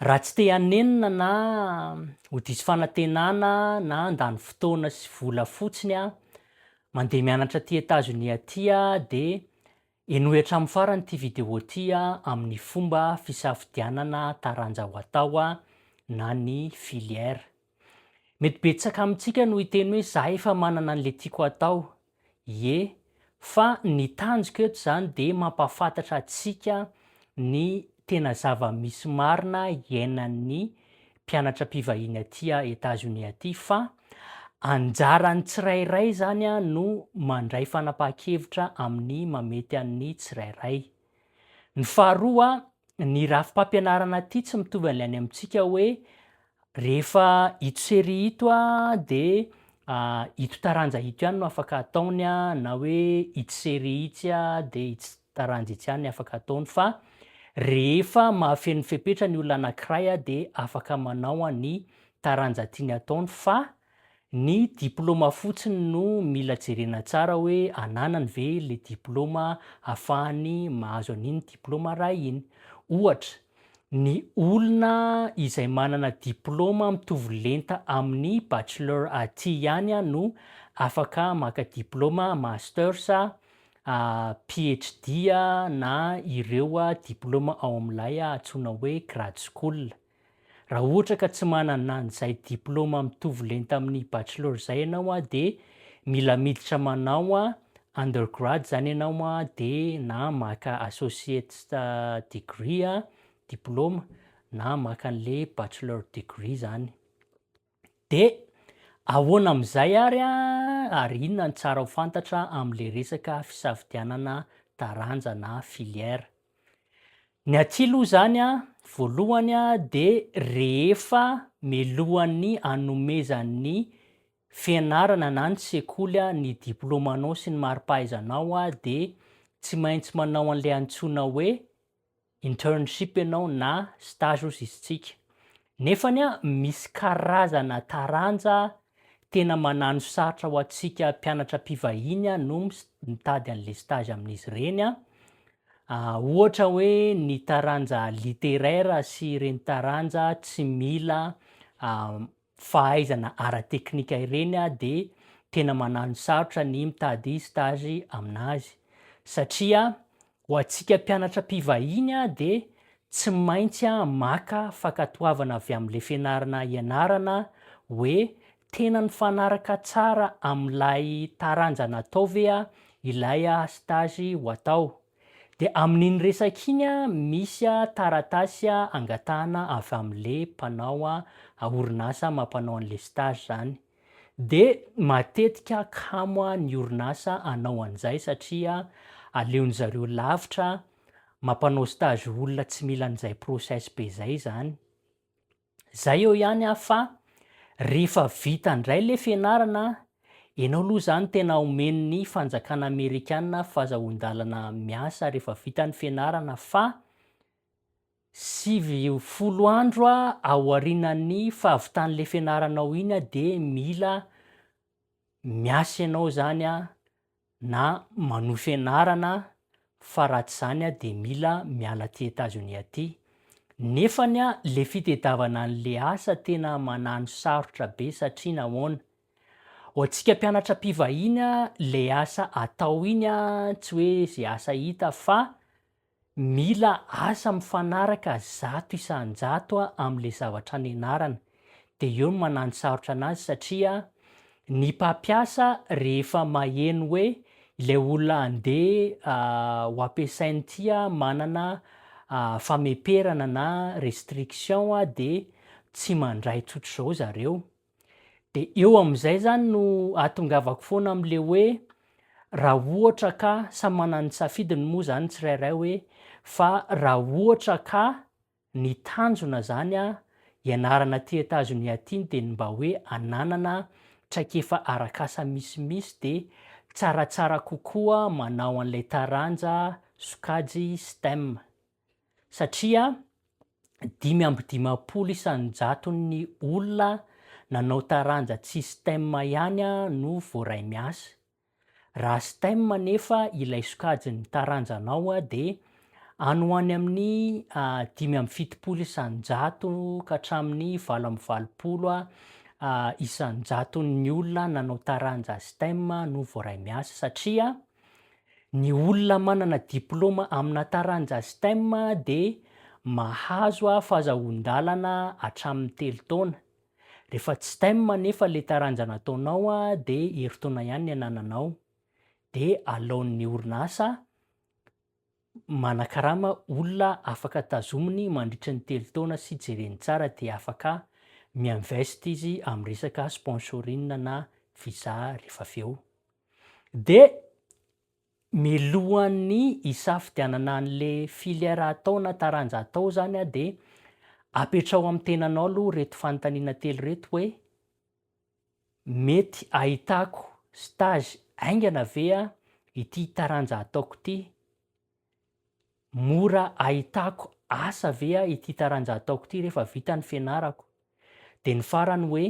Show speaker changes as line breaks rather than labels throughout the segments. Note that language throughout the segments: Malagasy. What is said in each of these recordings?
Raha tsy te hanenina na ho diso fanantenana na handany fotoana sy vola fotsiny aho mandeha mianatra aty Etazonia aty dia henoy hatramin'ny farany ity vidéo ity amin'ny fomba fisafidianana taranja ho atao na ny filière. Mety betsaka amintsika no hiteny hoe za efa manana an'le tiako atao. Ie, fa ny tanjoko eto izany dia mampahafantatra antsika ny tena zava-misy marina iainan'ny mpianatra mpivahiny aty Etazonia aty fa anjaran'ny tsirairay izany no mandray fanapahan-kevitra amin'ny mamety an'ny tsirairay. Ny faharoa, ny rafi-pampianarana aty tsy mitovy an'ilay any amintsika hoe rehefa ito série ito dia ito taranja ito ihany no afaka ataony na hoe ity série itsy dia itsy taranja itsy ihany afaka ataony fa rehefa mahafeno fepetra ny olona anankiray dia afaka manao ny taranja tiany ataony fa Ny diplôma fotsiny no mila jerena tsara hoe ananany ve le diplôma afahany mahazo an'iny diplôma iray iny. Ohatra, ny olona izay manana diplôma mitovy lenta amin'ny bachelor aty ihany no afaka maka diplôma masters, PHD na ireo diplôma ao amin'ilay antsoina hoe grade school. Raha ohatra ka tsy manana an'izay diplôma mitovy lenta amin'ny bachelor izay ianao dia mila miditra manao undergrad izany ianao dia na maka associate's degree, diplôma, na maka an'ilay bachelor degree izany. De ahoana amin'izay ary ary inona ny tsara ho fantatra amin'ilay resaka fisafidianana taranja na filière? Ny aty aloha izany voalohany de rehefa melohan'ny anomezan'ny fianarana na ny sekoly ny diplaomanao sy ny mari-pahaizanao de tsy maintsy manao an'ilay antsoina hoe internship ianao na stage ozy izy tsika nefany a misy karazana taranja tena manano sarotra ho antsika mpianatra mpivahiny a no mitady an'le stage amin'izy ireny a ohatra hoe ny taranja littéraire sy ireny taranja tsy mila fahaizana ara-teknika ireny aho dia tena manano sarotra ny mitady stage amin'azy satria ho antsika mpianatra mpivahiny dia tsy maintsy maka fankatoavana avy amin'ilay fianarana ianarana hoe tena nifanaraka tsara amin'ilay taranja natao ve ilay stage ho atao. Dia amin'iny resaka iny misy taratasy angatahana avy amin'ilay mpanao orinasa mampanao an'ilay stage izany. Dia matetika kamo ny orinasa hanao an'izay satria aleon'ny zareo lavitra mampanao stage olona tsy mila an'izay process be izay izany. Zay eo ihany ah fa rehefa vita ndray le fianarana enao aloha zany tena omen'ny fanjakana amerikana fazahoandalana miasa rehefa vita ny fianarana fa sivy folo andro ah aorinan'ny fahavitan'le fianaranao iny ah de mila miasa enao zany ah na manohy fianarana fa raha tsy izany dia mila miala aty Etazonia aty. Nefany le fitedavana an'le asa tena manano sarotra be satria nahoana? Ho antsika mpianatra mpivahiny le asa atao iny tsy hoe ze asa hita fa Mila asa mifanaraka zato isan-jato amin'ilay zavatra nianarana. Dia eo no mananosarotra anazy satria ny mpampiasa rehefa maheno hoe ilay olona handeha ho ampiasain'ity manana fameperana na restriction dia tsy mandray tsotr'izao zareo. Dia eo amin'izay zany no ahatongavako foana amin'le hoe raha ohatra ka samy manana ny safidiny moa zany tsirairay hoe fa raha ohatra ka ny tanjona zany a ianarana aty Etazonia aty dia ny mba hoe ananana traikefa arak'asa misimisy dia tsaratsara kokoa manao an'ilay taranja sokajy stem. satria dimy amby dimampolo isan-jaton'ny olona nanao taranja tsy stem ihany no voaray miasa. Raha stem anefa ilay sokajin'ny taranjanao dia any ho any amin'ny dimy amby fitopolo isan-jato ka hatramin'ny valo amby valopolo isan-jaton'ny olona nanao taranja stem no voaray miasa satria Ny olona manana diplaoma amina taranja STEM dia mahazo fahazahoan-dalana hatramin'ny telo taona. Rehefa tsy STEM anefa ilay taranja nataonao dia herintaona ihany ny anananao, dia alaon'ny orinasa Manakarama olona afaka tazominy mandritry ny telo taona sy jereny tsara dia afaka mi-invest izy amin'ny resaka sponsoring na visa rehefa avy eo. Dia milohan'ny hisafidianana an'le filière atao na taranja atao zany dia apetraho amin'ny tenanao aloha reto fanontaniana telo reto hoe, Mety ahitako stage haingana ve an ity taranja ataoko ity? Mora ahitako asa ve an ity taranja ataoko ity rehefa vita ny fianarako? Dia ny farany hoe,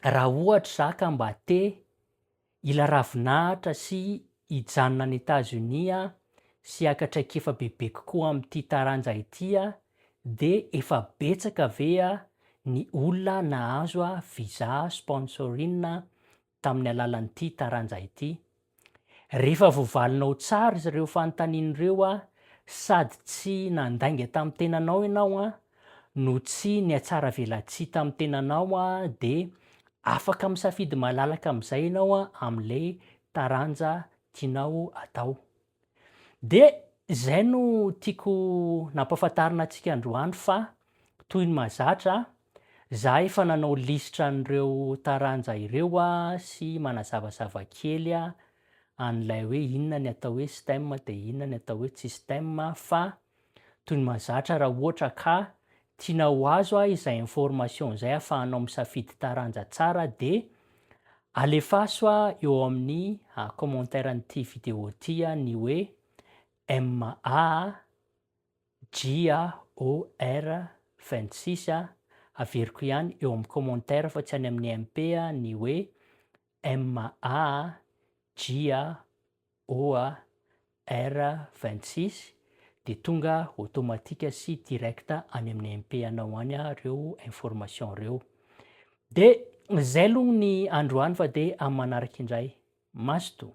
raha ohatra za ka mba te Hila ravinahitra sy hijanona any Etazonia sy haka traikefa bebe kokoa amin'ity taranja ity dia efa betsaka ve ny olona nahazo visa sponsorin tamin'ny alalan'ity taranja ity? Rehefa voavalinao tsara ireo fanontaniana ireo sady tsy nandainga tamin'ny tenanao ianao no tsy nihatsaravelatsihy tamin'ny tenanao dia afaka misafidy malalaka amin'izay ianao amin'ilay taranja tianao atao. Dia izay no tiako nampahafantarina antsika androany fa toy ny mahazatra, za efa nanao lisitra an'ireo taranja ireo sy manazavazava kely an'ilay hoe inona ny atao hoe STEM dia inona ny atao hoe tsy STEM fa Toy ny mahazatra raha ohatra ka tiana ho azo a izay information izay afahanao misafidy taranja tsara dia alefaso a eo amin'ny commentaire an'ity vidéo ty a ny hoe M A J A O R 26 a averiko ihany eo amin'ny commentaire fa tsy any amin'ny MP a ny hoe M A J A OAR vingt six dia tonga automatique sy direct any amin'ny MP anao any reo information reo. De zay aloha ny androany fa de amin'ny manaraka indray. Mazotoa.